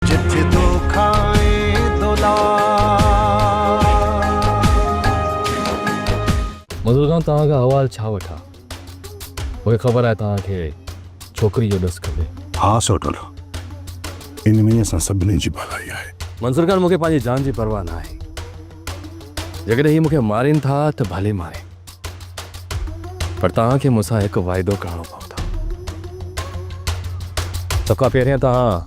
جت تو کائين دولار. بزرگان توهان کان حوال ڇا وٺان مونکي خبر آهي توهان کي ڇوڪري جو ڏس کپي. ها سوٽل ان ۾ اسان سڀني جي ڀلائي آهي. منظور خان مونکي پنهنجي جان جي پرواهه نه آهي جيڪڏهن هي مونکي مارين ٿا ته ڀلي مارين. پر توهان کي مون سان هڪ واعدو ڪرڻو پوندو سڀ کان پهريان توهان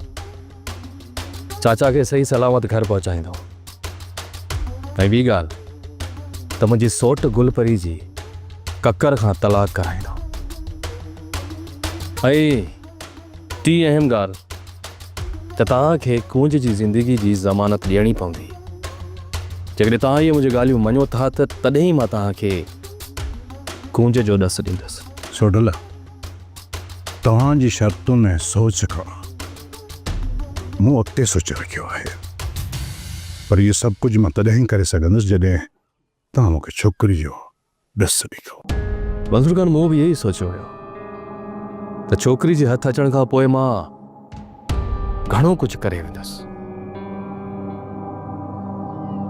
چاچا کي صحيح سلامت گهر پهچائيندو ۽ ٻي ڳالهه ته منهنجي سوٽ گل پري جي ڪڪر کان طلاق ڪرائيندو ۽ ٽين اهم ڳالهه ته توهان کي ڪونج جي زندگي جي ضمانت ڏيڻي پوندي. جيڪڏهن توهان اهي منهنجي ڳالهيون مڃو ٿا ته تڏهن ئي مان توهان کي ڪونج جو ڏس ڏيندس. سوڍل، توهان جي شرطن ۽ سوچ کان مون اڳتي سوچي رکيو آهي. پر اهو سڀ ڪجهه مان تڏهن ئي ڪري سگهندس جڏهن توهان مون کي ڇوڪري جو ڏس ڏٺو. منظور خان مون به اهو ئي سوچيو هيو ته ڇوڪري جي هٿ اچڻ کان پوء مان گهڻو ڪجهه ڪري ويندس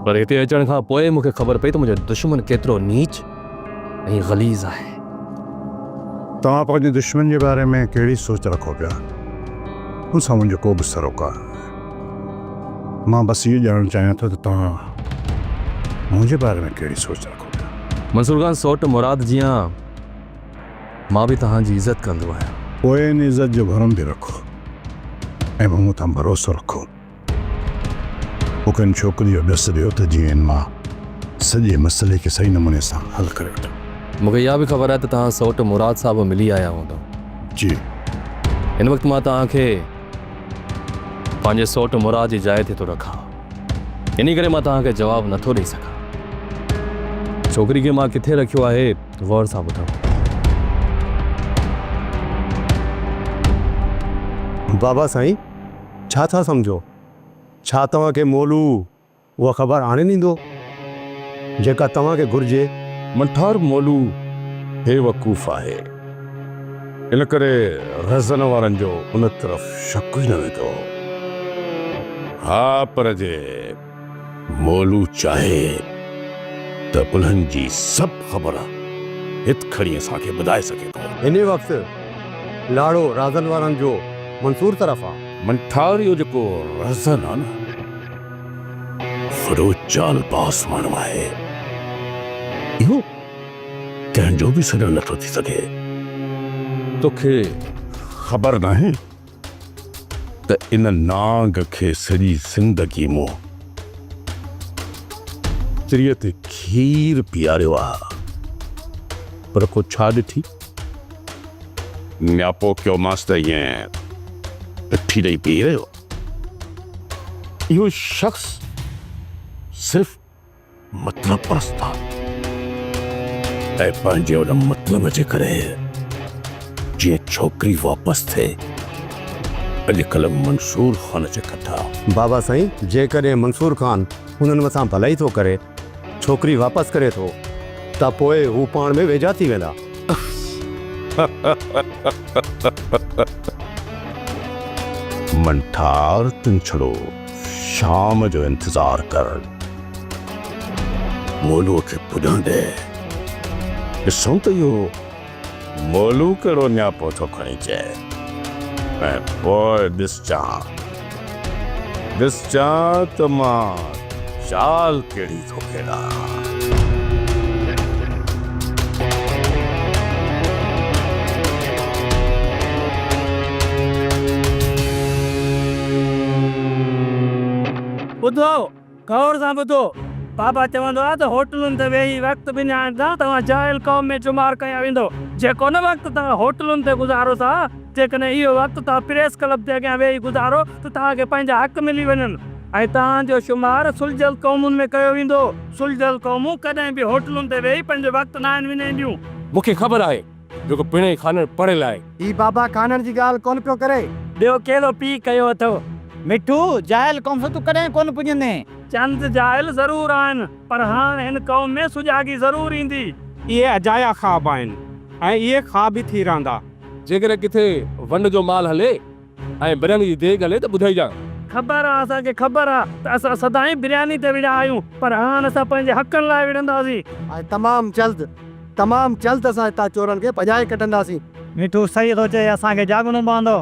پر هتي اچڻ کان پوء مون کي خبر پئي ته منهنجو دشمن ڪيترو نيچ ۽ غليظ آهي. توهان پنهنجي دشمن جي باري ۾ ڪهڙي سوچ رکو پيا ان سان منهنجو ڪو به سروڪار مان بس اهو ڄاڻڻ چاهيان ٿو ته توهان منهنجي باري ۾ ڪهڙي سوچ رکو پيا؟ منصور خان سوٽ مراد جيان مان به توهان جي عزت ڪندو آهيان. پوء ان عزت جو ڀرم به رکو ۽ مون مٿان ڀروسو رکو. مون کي ان ڇوڪري جو ڏس ڏيو ته جيئن مان سڄي مسئلي کي صحيح نموني سان حل ڪري وٺان. مون کي اها به خبر آهي ته توهان سوٽ مراد سان به ملي آيا هوندا. جي. هن وقت مان توهان کي. پنهنجي سوٽ مراد جي جاء تي ٿو رکان، انهي ڪري مان توهان کي جواب نه ٿو ڏئي سگهان. ڇوڪري کي مان ڪٿي رکيو آهي، غور سان ٻڌو. بابا سائين، ڇا ٿا سمجهو؟ ڇا توهان کي مولو. اها خبر آڻي ڏيندو، جيڪا توهان کي گهرجي. منٺار مولو بي وقوف آهي، ان ڪري رهزن وارن جو ان طرف شڪ ئي نه ويندو. ها پر جي مولو چاهي ته انهن جي سڀ خبر هت کڻي اسان کي ٻڌائي سگهي ٿو. انهيء وقت لاڙو رهزن وارن جو منصور طرف آ. منٺار اهو جيڪو رهزن آ نه. وڏو چال باز ماڻهو آهي. اهو ڪنهن جو به سڏڻ نٿو ٿي سگهي. توکي خبر ناهي ته ان نانگ کي سڄي زندگي مون تريء تي کير پياريو آ پر ڪو ڇا ڏٺي؟ نياپو ڪيومانس ته ائين اٺي ڏئي پيئي رهيو. اهو شخص صرف مطلب پرست آ۽ پنهنجي ان مطلب جي ڪري جيئن ڇوڪري واپس ٿئي اڄڪلهه منصور خان جي ڪٽا. بابا سائين جيڪڏهن منصور خان انهن مٿان ڀلائي ٿو ڪري ڇوڪري واپس ڪري ٿو ته پوء هو پاڻ ۾ ويجها ٿي ويندا. منٺار تون ڇڙو شام جو انتظار ڪر. مولوء کي پڄڻ ڏي. ڏسون ته اهو مولو ڪهڙو نياپو ٿو کڻي چئي ۽ پوء ڏسجان ڏسجان ته مان چال ڪهڙي ٿو کيڏان. ٻڌو! غور سان ٻڌو، بابا چوندو آهي ته هوٽلن تي ويهي وقت وڃائڻ سان توهان جاهل قوم ۾ شمار ڪيا ويندو، جيڪو نه وقت توهان هوٽلن تي گذارو ٿا، جيڪڏهن اهو وقت توهان پريس ڪلب جي اڳيان ويهي گذارو ته توهان کي پنهنجا حق ملي وڃن، ۽ توهان جو شمار سلجهيل قومن ۾ ڪيو ويندو، سلجهيل قومون ڪڏهن به هوٽلن تي ويهي پنهنجو وقت ناهن وڃائينديون. مون کي خبر آهي جيڪو پڻهين کانئن پڙهيل آهي. هي بابا کانئن جي ڳالهه ڪونه پيو ڪري. ٻيو ڪهڙو پيء ڪيو اٿئو؟ مٺو، جاهل قوم سان تون ڪڏهن ڪونه پڄندين. چند جاهل ضرور آهن، پر هاڻ هن قوم ۾ سجاڳي ضرور ايندي. اهي اجايا خواب آهن ۽ اهي خواب ئي ٿي رهندا. جيڪڏهن ڪٿي ونڊ جو مال هلي. ۽ برياني جي ديگ هلي ته ٻڌائيجان. خبر آ اسان کي خبر آ ته اسان سدائين برياني تي وڙهيا آهيون پر هاڻ اسان پنهنجي حقن لاء وڙهنداسين. ۽ تمام جلد تمام جلد اسان هتان چورن کي ڀڄائي ڪڍنداسين. مٺو صحيح ٿو چئي اسان کي جاڳڻو پوندو.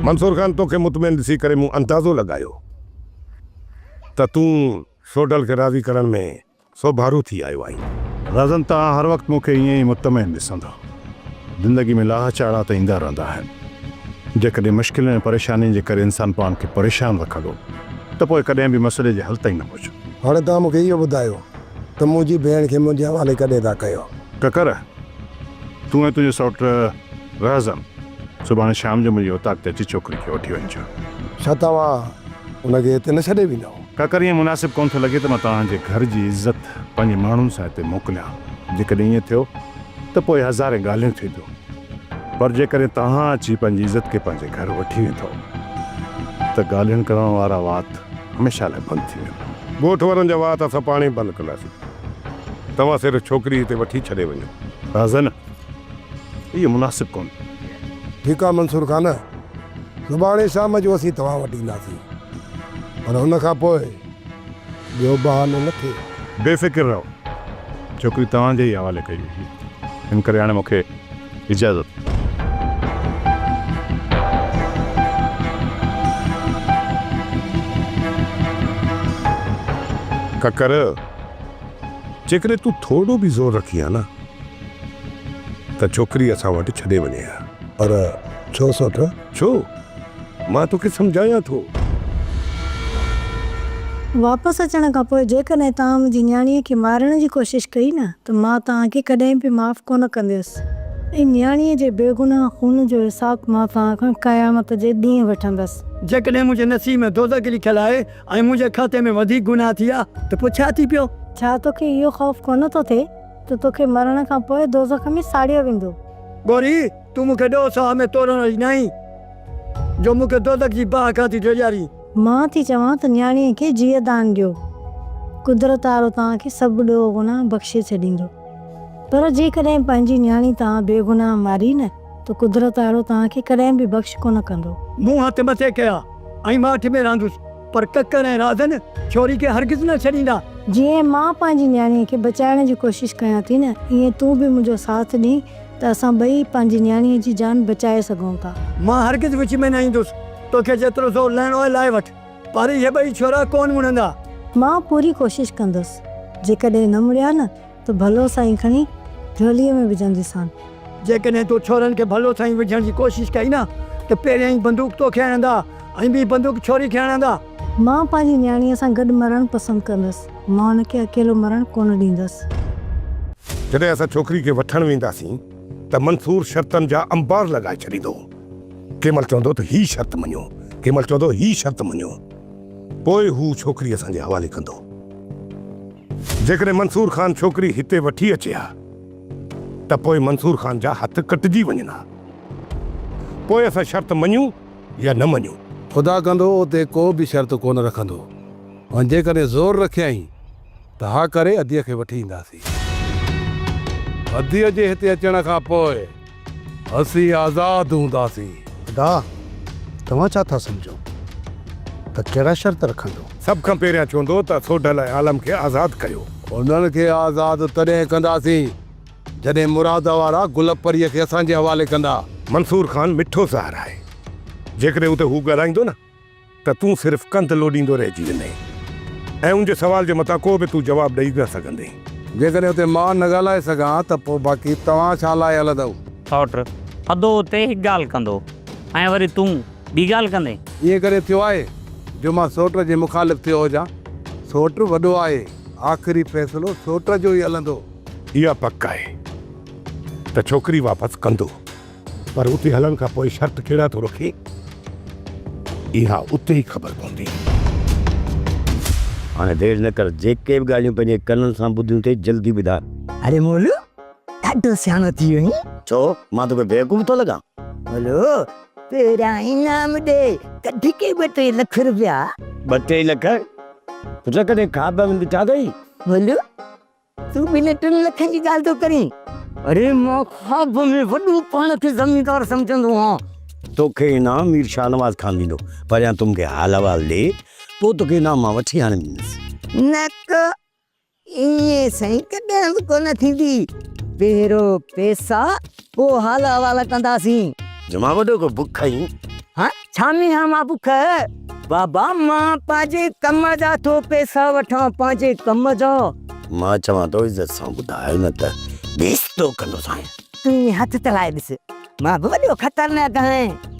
منصور خان توکي مطمئن ڏسي ڪري مون اندازو لڳايو ته تون سوڍل کي راضي ڪرڻ ۾ سو ڀارو ٿي آيو آهين. رزن توهان هر وقت مون کي ائين ئي مطمئن ڏسندا. زندگي ۾ لاهه چاڙها ته ايندا رهندا آهن. جيڪڏهن مشڪلين ۽ پريشانين جي ڪري انسان پاڻ کي پريشان رکندو ته پوء ڪڏهن به مسئلي جي حل تائين نه پهچندو. هاڻي توهان مون کي اهو ٻڌايو ته منهنجي ڀيڻ کي منهنجي حوالي ڪڏهن ٿا ڪيو؟ ڪڪر، تون ۽ تنهنجو سئوٽ رهزن سڀاڻي شام جو منهنجي اوطاق تي اچي ڇوڪري کي وٺي وڃجو. ڇا توهان هن کي هتي نه ڇڏي ويندؤ؟ ڪاڪر ائين مناسب ڪونه ٿو لڳي ته مان توهان جي گهر جي عزت پنهنجي ماڻهن سان هتي موڪليان. جيڪڏهن ائين ٿيو ته پوء هزارين ڳالهيون ٿينديون پر جيڪڏهن توهان اچي پنهنجي عزت کي پنهنجي گهر وٺي ويندؤ ته ڳالهين ڪرڻ وارا وات هميشه لاء بند ٿي ويندا. ڳوٺ وارن جا وات اسان پاڻهي بند ڪنداسين. توهان صرف ڇوڪري هتي وٺي ڇڏي وڃو. راز نه اهو مناسب ڪونهي. ٺيڪ آ منصور خان، سڀاڻي شام جو اسين توهان وٽ اينداسين، پر ان کان پوء ٻيو بهانو نه ٿئي. بي فڪر رهو، ڇوڪري توهان جي ئي حوالي ڪئي وئي هئي، ان ڪري هاڻي مون کي اجازت. ڪڪر، جيڪڏهن تون ٿورو به زور رکين ها نه. ته ڇوڪري اسان وٽ ڇڏي وڃي ها. پر ڇو سوٽ؟ ڇو؟ مان توکي سمجهايان ٿو. واپس اچڻ کان پوء جيڪڏهن توهان منهنجي نياڻيء کي مارڻ جي ڪوشش ڪئي نه ته مان توهان کي ڪڏهن به معاف ڪونه ڪنديس ۽ نياڻيء جي بيگناهه خون جو حساب مان توهان کان قيامت جي ڏينهن وٺندس. جيڪڏهن منهنجي نصيب ۾ دوزخ لکيل آهي ۽ منهنجي کاتي ۾ وڌيڪ گناهه ٿي ويا ته پوء ڇا ٿي پيو؟ ڇا توکي اهو خوف ڪونه ٿو ٿئي؟ ته توکي مرڻ کان پوء دوزخ ۾ ساڙيو ويندو. ڳوري! تون مون کي ڏوهه ساهه ۾ تورڻ واري ناهين، جو مون کي دوزخ جي باهه کان ٿي ڊيڄارين. مان ٿي چوان ته نياڻيء کي جيء دان ڏيو، قدرت وارو توهان کي سڀ ڏوهه گناهه بخشي ڇڏيندو. پر جيڪڏهن پنهنجي نياڻي توهان بيگناهه ماري نه ته قدرت آرو توهان کي ڪڏهن به بخش ڪونه ڪندو. مون هٿ مٿي ڪيا ۽ ماٺ ۾ راندس، پر ڪڪر ۽ رازن ڇوري کي هرگز نه ڇڏيندا. جيئن مان پنهنجي نياڻيء کي بچائڻ جي ڪوشش ڪيان ٿي نه، ايئن تون به منهنجو ساٿ ڏينهن ته اسان ٻئي پنهنجي نياڻيء جي جان بچائي سگهون ٿا. مان هرگز وچ ۾ نه ايندس، توکي جيترو زور لهڻو آهي لاهي وٺ، پر اهي ٻئي ڇورا ڪونه مڙندا. مان پوري ڪوشش ڪندس، جيڪڏهن نه مڙيا نه ته ڀلو سائين کڻي جهوليء ۾ وجهنديسان. جيڪڏهن تو ڇورن کي ڀلو سائين وجهڻ جي ڪوشش ڪئي نه ته پهريائين بندوق توکي هڻندا ۽ ٻي بندوق ڇوري کي هڻندا. مان پنهنجي نياڻيء سان گڏ مرڻ پسند ڪندس. مان هن کي اڪيلو مرڻ ڪونه ڏيندس. جڏهن اسان ڇوڪري کي وٺڻ وينداسين ته منصور شرطن جا انبار لڳائي ڇڏيندو. ڪنهن مهل چوندو ته هي شرط مڃو، ڪنهن مهل چوندو هي شرط مڃو. پوء هو ڇوڪري اسان جي حوالي ڪندو. جيڪڏهن منصور خان ڇوڪري هتي وٺي اچي ها ته پوء منصور خان جا هٿ ڪٽجي وڃن ها. پوء اسان شرط مڃون يا نه مڃون. خدا ڪندو اتي ڪو به شرط ڪونه رکندو. ۽ جيڪڏهن زور رکيائين ته ها ڪري اديء کي وٺي اينداسين. اديء جي هتي اچڻ کان پوء اسين آزاد هونداسين. ادا، توهان ڇا ٿا سمجهو ته ڪهڙا شرط رکندو؟ سڀ کان پهريان چوندو ته سوڍل ۽ عالم کي آزاد ڪيو. انهن کي آزاد تڏهن ڪنداسين، جڏهن مراد وارا گل پريء کي اسان جي حوالي ڪندا. منصور خان مٺو زهر آهي، جيڪڏهن اتي هو ڳالهائيندو نه ته تون صرف ڪنڌ لوڏيندو رهجي ويندين ۽ ان جي سوال جي متان ڪو به تون جواب ڏئي نه سگهندين. جيڪڏهن اتي مان نه ڳالهائي سگهان ته پوء باقي توهان ڇا لاء هلندؤ؟ سئوٽ، ٿڌو اتي هڪ ڳالهه ڪندو ۽ وري تون ٻي ڳالهه ڪندين؟ ائين ڪڏهن ٿيو آهي جو مان سئوٽ جي مخالف ٿيو هجان؟ سئوٽ وڏو آهي، آخري فيصلو سئوٽ جو ئي هلندو. اها پڪ آهي ته ڇوڪري واپس ڪندو. پر اتي هلڻ کان پوء شرط ڪهڙا ٿو رکي، اها اتي ئي خبر پوندي. هاڻي دير نه ڪر، جيڪي به ڳالهيون پنهنجي ڪنن سان ٻڌيون ٿي، جلدي ٻڌاء. اري مولو، ڏاڍو سياڻو ٿي ويو آهين. ڇو، مان توکي بيوقوف ٿو لڳان؟ مولو، پهريان انعام ڏي، ڪڍ ڪي ٻه ٽي لک روپيا. ٻه ٽي لک؟ پٽ ڪڏهن خواب ۾ ڏٺا اٿئي؟ مولو، تون ٻنهي ٽن لکن جي ڳالهه ٿو ڪرين. اڙي مان خواب ۾ وڏو پاڻ کي زميندار سمجهندو هئان. توکي انعام مير شاهنواز خان ڏيندو. پهريان تون مونکي حال احوال ڏي پوء توکي انعام مان وٺي آڻي ڏيندس. نڪ، ائين سائين ڪڏهن به ڪونه ٿيندي. پهريون پئسا پوء حال احوال ڪنداسين. جمعه وڏو ڪو بک کائين. ها ڇا ۾ ها مان بک. بابا مان پنهنجي ڪم جا ٿو پيسا وٺان پنهنجي ڪم جا. مان چوان ٿو عزت سان ٻڌاء نه ته بيستو ڪندوسانء. تون ائين هٿ تلائي ڏس مان به وڏو خطرناڪ آهيان.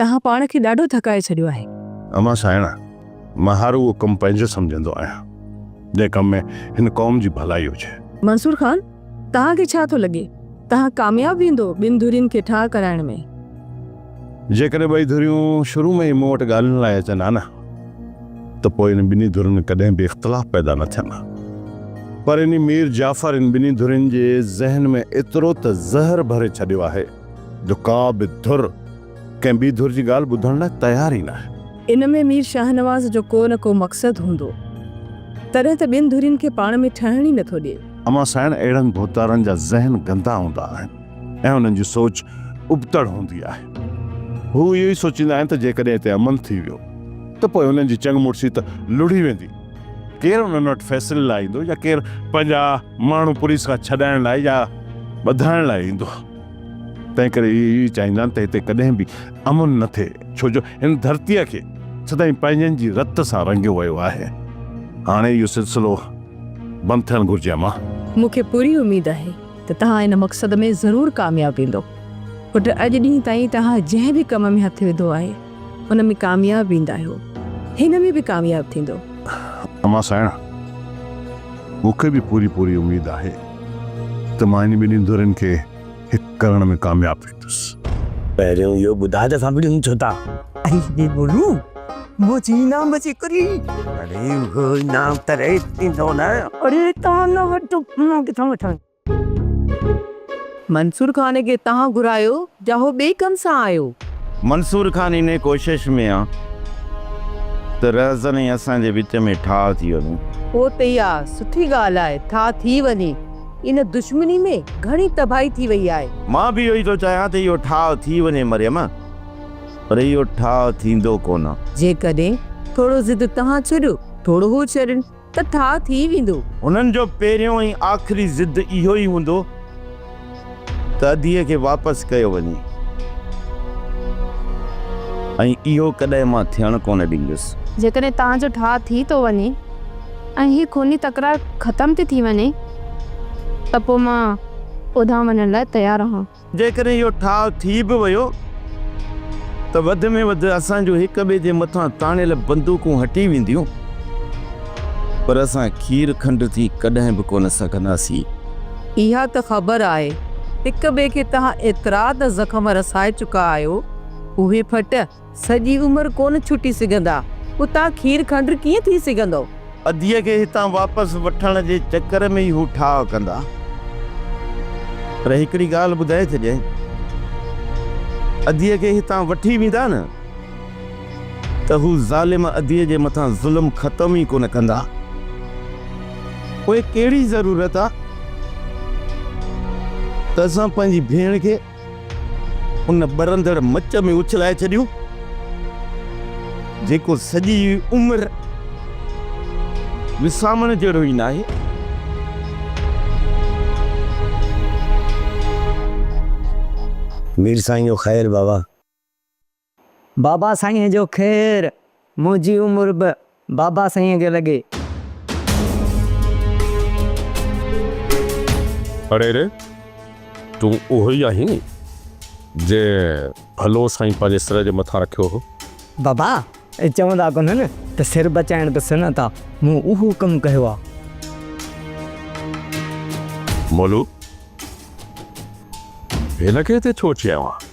توهان پاڻ کي ڏاڍو ٿڪائي ڇڏيو آهي. امان سائڻ، مان هر اهو ڪم پنهنجو سمجهندو آهيان، جنهن ڪم ۾ هن قوم جي ڀلائي هجي. منصور خان، توهان کي ڇا ٿو لڳي، توهان ڪامياب ويندو ٻن ڌرين کي ٺاهه ڪرائڻ ۾؟ جيڪڏهن ٻئي ڌريون شروع ۾ ئي مون وٽ ڳالهين لاء اچن ها نه، ته پوء انهي ٻنهي ڌرين ۾ ڪڏهن به اختلاف پيدا نه ٿين ها. پر انهي مير جعفر ان ٻنهي ڌرين جي ذهن ۾ ايترو ته زهر ڀري ڇڏيو آهي، جو ڪا به ڌر ڪنهن ٻي ڌر جي ڳالهه ٻڌڻ لاء تيار ئي ناهي. ان ۾ مير شاهنواز جو ڪو نه ڪو مقصد هوندو، تڏهن ته ٻين ڌرين کي پاڻ ۾ ٺهڻ ئي نٿو ڏئي. امان سائڻ اهڙن ڀوتارن جا ذهن گندا هوندا آهن ۽ انهن جي سوچ ابتڙ هوندي آهي. هو اهو ئي سوچيندا آهن ته جيڪڏهن هتي امن ٿي ويو ته پوء انهن جي چنگ مڙسي ته لڙهي ويندي. ڪير انهن وٽ فيصلي لاء ايندو يا ڪير پنهنجا ماڻهو پوليس کان ڇڏائڻ لاء يا ٻڌائڻ لاء ايندو؟ تنهنڪري اهي ئي چاهيندا آهن ته هتي ڪڏهن به امن نه ٿئي، ڇو جو هن ڌرتيء کي سدائين پنهنجن جي رت سان رنگيو ويو آهي. هاڻي اهو سلسلو بند ٿيڻ گهرجي امان. مون کي پوري اميد آهي ته توهان ان مقصد ۾ ضرور ڪامياب ويندو. پٽ اڄ ڏينهن تائين توهان جنهن به ڪم ۾ هٿ وڌو آهي، ان ۾ ڪامياب ويندا اهو هن ۾ به ڪامياب ٿيندو. امان سانئڻ مون کي به پوري پوري اميد آهي ته مان هن ٻنهي ڌرين کي هڪ ڪرڻ ۾ ڪامياب ويندس. پهريون اهو ٻڌاء ته اسان ٻنهي ڇو ٿا. اي بي ٻولو منهنجي انعام جي ڪري. اڙي اهو انعام ته ريت ٿيندو نه. اڙي تان نه وٽ مان ڪٿان وٺان. منصور خان کي تهان گهرايو جا هو ٻئي ڪم سان آيو. منصور خان انهي ڪوشش ۾ آ ته رهزن ۽ اسان جي وچ ۾ ٺاهه ٿي وڃي. هو ته اها سٺي ڳالهه آهي ٺاهه ٿي وڃي. ان دشمني ۾ گهڻي تباهي ٿي وئي آهي. مان به اهو ئي ٿو چاهيان ته اهو ٺاهه ٿي وڃي مريم، پر اهو ٺاهه ٿيندو ڪونه. جيڪڏهن ٿورو ضد تهان ڇڏيو ٿورو هو ڇڏين. ته ٺاء ٿي ويندو. هنن جو پهريون ۽ آخري ضد اهو ئي هوندو ته ادي کي واپس ڪيو وڃي ۽ اهو ڪڏهن مان ٿيڻ ڪونه ڏيندس. جيڪڏهن توهان جو ٺاء ٿي ٿو وڃي ۽ هي خوني تڪرار ختم ٿي ٿي وڃي ته پوء مان اوڌان وڃڻ لاء تيار آهان. جيڪڏهن اهو ٺاهه ٿي به ويو ته وڌ ۾ وڌ اسان جون هڪ ٻئي جي مٿان تاڻيل بندوقون هٽي وينديون پر اسان کير کنڊ ٿي ڪڏهن به ڪونه سگهنداسين. اها ته خبر آهي هڪ ٻئي کي توهان ايترا ته زخم رسائي چڪا آهيو اهي ڦٽ. سڄي عمر ڪونه ڇٽي سگهندا. اتان کير کنڊ ڪيئن ٿي سگهندو؟ اديء کي هتان واپس وٺڻ جي چڪر ۾ ئي هو ٺاهه ڪندا. پر هڪڙي ڳالهه ٻڌائي ڇڏيائين. اديء کي هتان وٺي ويندا نه ته هو ظالم اديء جي مٿان ظلم ختم ئي ڪونه ڪندا. پوء ڪهڙي ضرورت آ ته اسان پنهنجي ڀيڻ کي. ان ٻرندڙ مچ ۾ اڇلائي ڇڏيو، جيڪو سڄي عمر وسامڻ جهڙو ئي ناهي. مير سائين جو خير بابا. بابا سائينء جو خير، منهنجي عمر به بابا سائينء کي لڳي. اڙي ري، تون اهو ئي آهين ني، جنهن ڀلو سائين پنهنجي سر جي مٿان رکيو هو؟ بابا، اهي چوندا ڪونهن ته سر بچائڻ به سنت آ، مون اهو ڪم ڪيو آ. مولو، هن کي هتي ڇو چيائون هان؟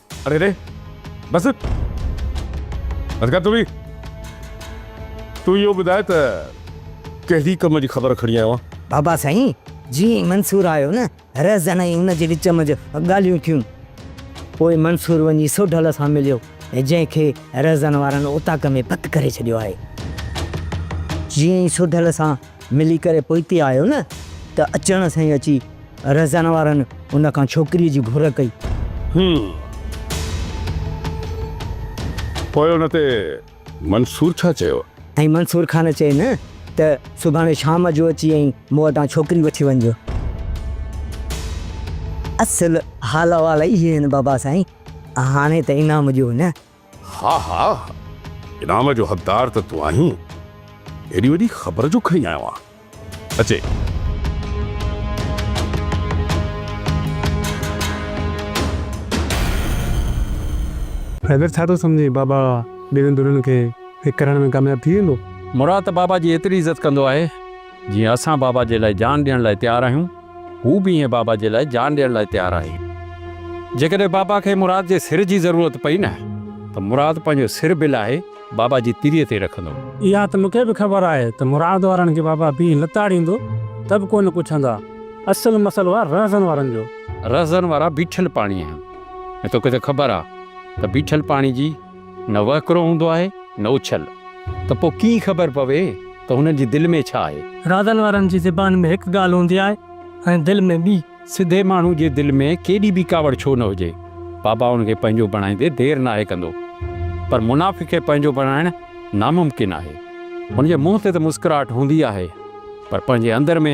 اري ري بس بس ڪر تون به تون اهو ٻڌاء ته ڪهڙي ڪم جي خبر کڻي آيو آهين؟ بابا سائين جيئن ئي منصور آيو نه رهزن ۽ ان جي وچ منجهه ڳالهيون ٿيون پوء منصور وڃي سوڍل سان مليو جنهن کي رهزن وارن اوطاق ۾ پڪ ڪري ڇڏيو آهي جيئن ئي سوڍل سان ملي ڪري پوئتي آيو نه ته اچڻ سان ئي اچي رهزان وارن ان کان ڇوڪريء جي گهر ڪئي. هيم. پوء ان تي منصور ڇا چيو؟ ۽ منصور خان چين ته سڀاڻي شام جو اچي ۽ مون وٽان ڇوڪري وٺي وڃجو. اصل حال احوال اهي آهن بابا سائين. هاڻي ته انعام ڏيو نه. ها ها انعام جو حقدار ته تون آهين ايڏي وڏي خبر جو کڻي آيو آهين اچي. حيدر ڇا ٿو سمجهين بابا ٻنهي ڌرين کي هڪ ڪرڻ ۾ ڪامياب ٿي ويندو. مراد ته بابا جي ايتري عزت ڪندو آهي جيئن اسان بابا جي لاء جان ڏيڻ لاء تيار آهيون، هو به ائين بابا جي لاء جان ڏيڻ لاء تيار آهي. جيڪڏهن بابا کي مراد جي سر جي ضرورت پئي نه ته مراد پنهنجو سر به لاهي بابا جي تري تي رکندو. اها ته مون کي به خبر آهي ته مراد وارن کي بابا بيهي لتاڙيندو ته به ڪو نه پڇندا. اصل مسئلو آهي رهزن وارن جو. رهزن وارا بيٺل پاڻي آهن ۽ توکي ته خبر آهي ته بيٺل پاڻي جي. نه وهڪرو هوندو آهي نه اڇل، ته پوء ڪيئن خبر پوي ته هنن جي دل ۾ ڇا آهي؟ رازن وارن جي زبان ۾ هڪ ڳالهه هوندي آهي ۽ دل ۾ ٻي. سڌي ماڻهو جي دل ۾ ڪيڏي به ڪاوڙ ڇو نه هجي، بابائن کي پنهنجو بڻائيندي دير ناهي ڪندو، پر منافق کي پنهنجو بڻائڻ ناممڪن آهي. هن جي منهن تي ته مسڪراهٽ هوندي آهي، پر پنهنجي اندر ۾.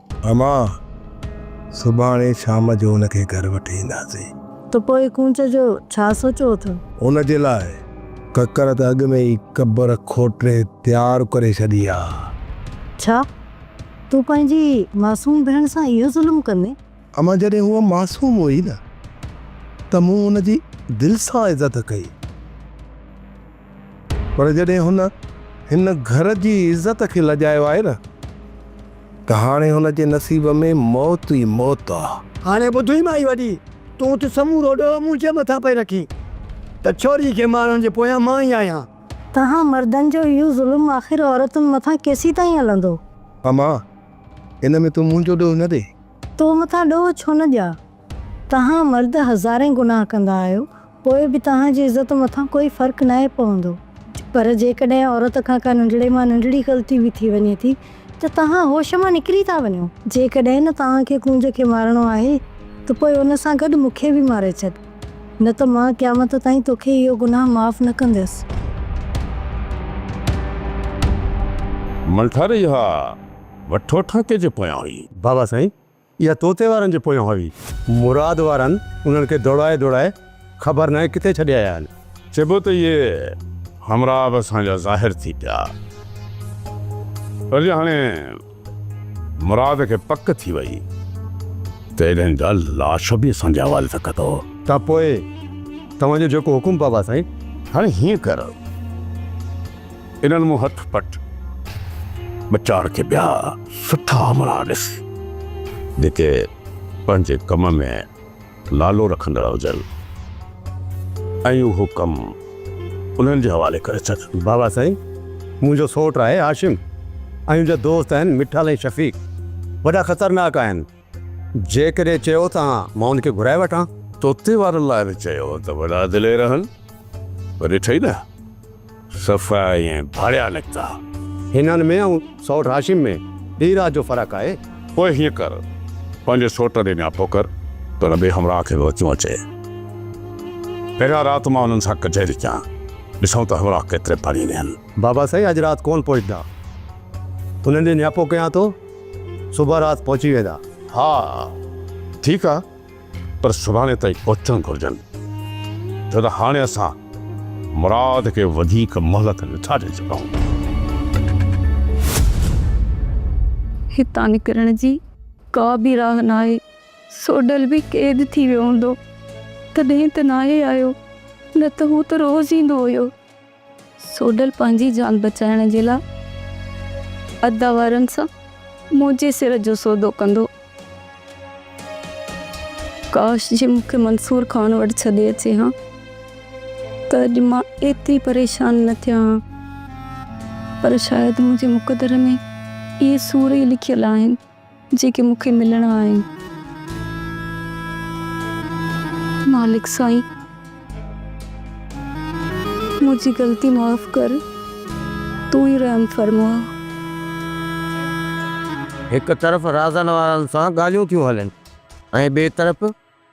اما، سڀاڻي شام جو ان کي گهر وٺي اينداسين. ته پوء ڪونچ جو ڇا سوچيو اٿو؟ ان جي لاء ڪڪر ته اڳ ۾ ئي قبر کوٽري تيار ڪري ڇڏي آ. ڇا؟ تون پنهنجي معصوم ڀيڻ سان اهو ظلم ڪندين؟ اما، جڏهن هوء معصوم هئي نه ته مون هن جي دل سان عزت ڪئي. پر جڏهن هن هن گهر جي عزت کي لڄايو آهي نه ته هاڻي هن جي نصيب ۾ موت ئي موت آ. هاڻي ٻڌئي مائي وڏي، تون ته سمورو ڏوهه منهنجي مٿان پئي رکين ته ڇوري کي مارڻ جي پويان مان ئي آهيان. توهان مردن جو اهو ظلم آخر عورتن مٿان ڪيسيتائين هلندو؟ امان! ان ۾ تون منهنجو ڏوهه نه ڏي. تو مٿان ڏوهه ڇو نه ڏيان؟ توهان مرد هزارين گناهه ڪندا آهيو، پوء به توهان جي عزت مٿان ڪوئي فرق ناهي پوندو. پر جيڪڏهن عورت کان ڪا ننڍڙي مان ننڍڙي غلطي به ٿي وڃي ٿي ته توهان هوش مان نڪري ٿا وڃو. جيڪڏهن نه توهان کي ڪونج کي مارڻو آهي ته پوء ان سان گڏ مون کي به ماري ڇڏ، نه ته مان قيامت تائين تو کي اهو گناهه معاف نه ڪنديس. ملٺاري اها وٺوٺاڪي جي پويان هئي. بابا سائين اها طوطي وارن جي پويان هئي. مراد وارن انهن کي دوڙائي دوڙائي خبر ناهي ڪٿي ڇڏي آيا آهن. چئبو ته اهي همراهه به اسان جا ظاهر ٿي پيا. پر جي هاڻي مراد کي پڪ ٿي وئي ته ايڏن جا لاش به اسان جي حوالي ٿا ڪندو. ته پوء توهان جو جيڪو حڪم بابا سائين. هاڻي هيئن ڪر. انهن مون هٿ پٽ ٻچاڻ کي ٻيا سٺا امڙا ڏس جيڪي پنهنجي ڪم ۾ نالو رکندڙ هجن ۽ اهو ڪم انهن جي حوالي ڪري ڇڏ. بابا سائين منهنجو سوٽ آهي هاشم ۽ ان جا دوست آهن مٺل ۽ شفيق وڏا خطرناڪ آهن. جيڪڏهن چيو ته ها، مان ان کي گهرائي وٺان. توتي وارن لاء به چيو هو ته وڏا دلير آهن، پر ڏٺئي نه، صفا ائين ڀاڙيا نڪتا. هنن ۾ ۽ سئوٽ هاشم ۾ ڏينهن رات جو فرق آهي. پوء هيئن ڪر، پنهنجي سئوٽ ڏي نياپو ڪر ته هن ٻئي همراهه کي به وچون اچي. پهريان رات مان انهن سان ڪچهري ڪيان، ڏسون ته همراهه ڪيتري پاڻيء ۾ آهن. بابا سائين اڄ رات ڪون پهچدا. انهن ڏي نياپو ڪيان ٿو صبح رات پهچي ويندا. ها ٺيڪ آ پر سڀاڻي تائين پهچڻ گهرجن ڇو ته هاڻي اسان مراد کي وڌيڪ مهلت نٿا ڏئي سگهون. هتان نڪرڻ جي ڪا به راهه ناهي. سوڍل به قيد ٿي ويو هوندو تڏهن ته ناهي آيو نه ته هو ته روز ايندو هيو. سوڍل پنهنجي جان بچائڻ جي لاء ادا وارن سان منهنجي سر جو سودو ڪندو. ڪاش جي مون کي منصور خان وٽ ڇڏي اچي ها ته اڄ مان ايتري پريشان نه ٿيان ها. پر شايد منهنجي مقدر ۾ اهي سور ئي لکيل آهن. جيڪي مون کي ملڻا آهن. مالڪ سائين منهنجي غلطي معاف ڪر تون ئي رحم فرما. هڪ طرف رازن وارن سان ڳالهيون ٿيون هلن ۽ ٻئي طرف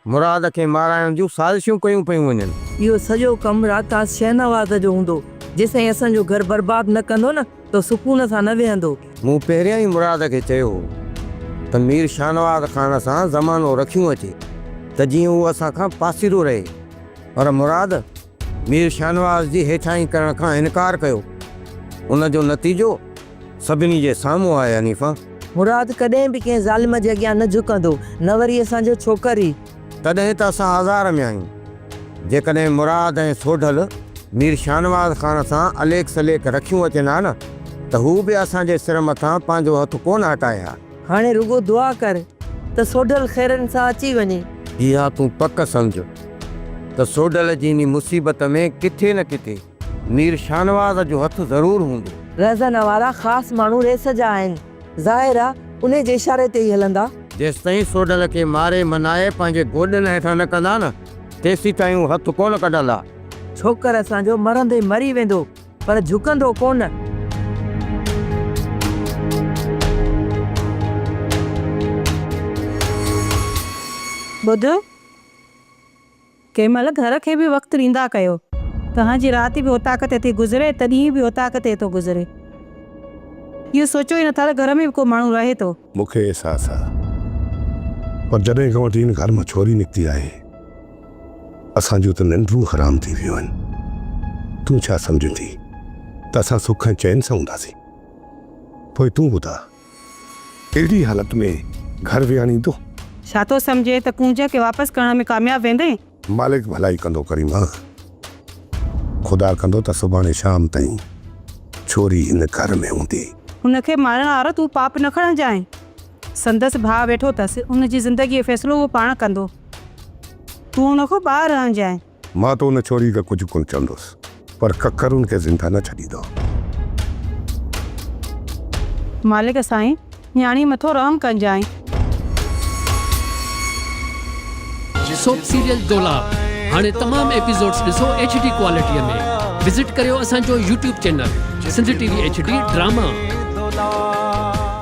مراد کي مارائڻ جون سازشون ڪيون پيون وڃن. اهو سڄو ڪم راڪاس شهنواز جو هوندو، جيسين اسان جو گهر برباد نه ڪندو نه ته سڪون سان نه ويهندو. مون پهريان ئي مراد کي چيو هو ته مير شهنواز خان سان زمانو رکيون اچي ته جيئن هو اسان کان پاسيرو رهي، پر مراد مير شهنواز جي هيٺاهين ڪرڻ کان انڪار ڪيو، ان جو نتيجو. سڀني جي سامهون آهي حنيفه. مراد ڪڏهن به ڪنهن ظالم جي اڳيان نه جهڪندو، نه وري اسان جو ڇوڪر ئي. تڏهن ته اسان آزار ۾ آهيون. جيڪڏهن مراد ۽ سوڍل مير شاهنواز خان سان اليڪ سليڪ رکيون اچن ها نه ته هو به اسان جي سر مٿان پنهنجو هٿ ڪونه هٽائي ها. هاڻي رڳو دعا ڪر ته سوڍل خيرن سان اچي وڃي. اها تون پڪ سمجهه ته سوڍل جي انهي مصيبت ۾ ڪٿي نه ڪٿي. مير شاهنواز جو هٿ ضرور هوندو. رهزن وارا خاص ماڻهو ريس جا آهن. ظاهر آ انهي جي اشاري تي ئي هلندا. جيستائين سوڍل کي ماري منائي پنهنجي گوڏن هيٺان نه ڪندا نه، تيسين تائين هو هٿ ڪونه ڪڍندا. ڇوڪر اسان جو مرندي مري ويندو، پر جهڪندو ڪونه. ٻڌ! ڪنهن مهل گهر کي به وقت ڏيندا ڪيو. توهان جي رات به اوطاق تي ٿي گذري ته ڏينهن به اوطاق تي ٿو گذري. اهو سوچيو ئي نٿا ته گهر ۾ به ڪو ماڻهو رهي ٿو. مون کي احساس آ پر جڏهن کان وٺي هن گهر مان ڇوري نڪتي آهي اسان جون ته ننڊون حرام ٿي ويون آهن. تون ڇا سمجهين ٿي ته اسان سک ۽ چين سان هونداسين. پوء تون ٻڌاء اهڙي حالت ۾ گهر وياڻيندو؟ ڇا ٿو سمجهين ته ڪونج کي واپس ڪرڻ ۾ ڪامياب ويندين؟ مالڪ ڀلائي ڪندو ڪريما. خدا ڪندو ته سڀاڻي شام تائين ڇوري هن گهر ۾ هوندي. هن کي مارڻ وارو تون پاپ نه کڻجانء. سندس ڀاء ويٺو اٿس. ان جي زندگيء جو فيصلو اهو پاڻ ڪندو. تون هن کان ٻاهر رهجانء. مان ته ان ڇوري کي ڪجهه ڪونه چوندس پر ڪڪر ان کي زنده نه ڇڏيندو. مالڪ سائين نياڻي مٿو رحم ڪنجانء. سوپ سيريل دولاب هاڻي تمام ايپيسوڊز ڏسو ايڇ ڊي ڪوالٽيء ۾ وزٽ ڪريو اسان جو YouTube channel Sindh T V H D drama.